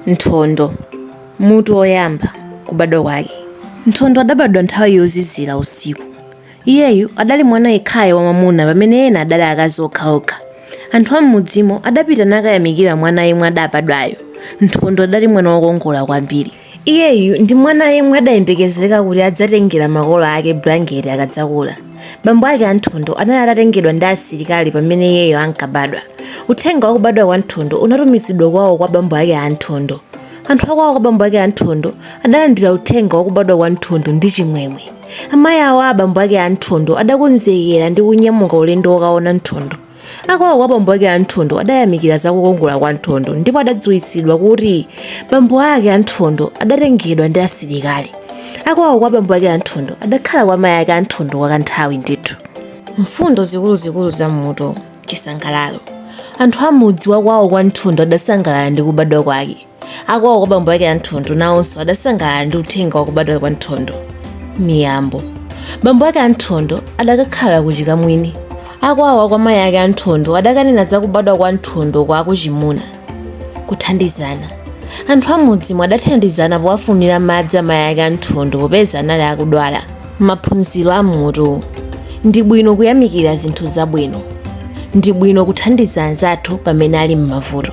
Nthondo Mutu woyamba Kubadwa kwake Nthondo adabadwa nthawi yozizira usiku. Iyeyu adali mwana yekhayo wamwamuna pamene ena adali akazi okhaokha. Anthu am'mudzimo adapita nakayamikira mwana yemwe adabadwayo. Nthondo adali mwana wokongola kwambiri. Iyeyu ndi mwana yemwe adayembekezereka kuti adzatengera makolo ake bulangeti akadzakula. bambo ake a nthondo anali atatengedwa ndi asilikali pamene iyeyo ankabadwa uthenga wa kubadwa kwa nthondo unatumizidwa kwawo kwa bambo ake a nthondo anthu akwawo kwa bambo ake a nthondo adalandira uthenga wa kubadwa kwa nthondo ndi chimwemwe amayi awo a bambo ake a nthondo adakonzekera ndi kunyamuka ulendo wokaona nthondo Akwawo kwa bambo ake a Nthondo adayamikira za kukongola kwa Nthondo ndipo adadziwitsidwa kuti bambo ake a Nthondo adatengedwa ndi asilikali. Akwawo kwa bambo ake a Nthondo adakhala kwa mayi ake a Nthondo kwa kanthawi ndithu. Mfundo zikuluzikulu za m'mutu, Chisangalalo. Anthu a m'mudzi wa kwawo kwa Nthondo adasangalala ndi kubadwa kwake. akwawo kwa bambo ake a nthondo nawonso adasangalala ndi uthenga wakubadwa kwa nthondo miyambo bambo ake a nthondo adakakhala ku chikamwini akwawo kwa mayi ake a nthondo adakanena za kubadwa kwa nthondo kwa akuchimuna kuthandizana anthu am'mudzimo adathandizana powafunira madzi amayi ake a nthondo popeza anali akudwala Maphunziro a m'mutu Ndi bwino kuyamikira zinthu zabwino. Ndi bwino kuthandiza anzathu pamene ali m'mavuto.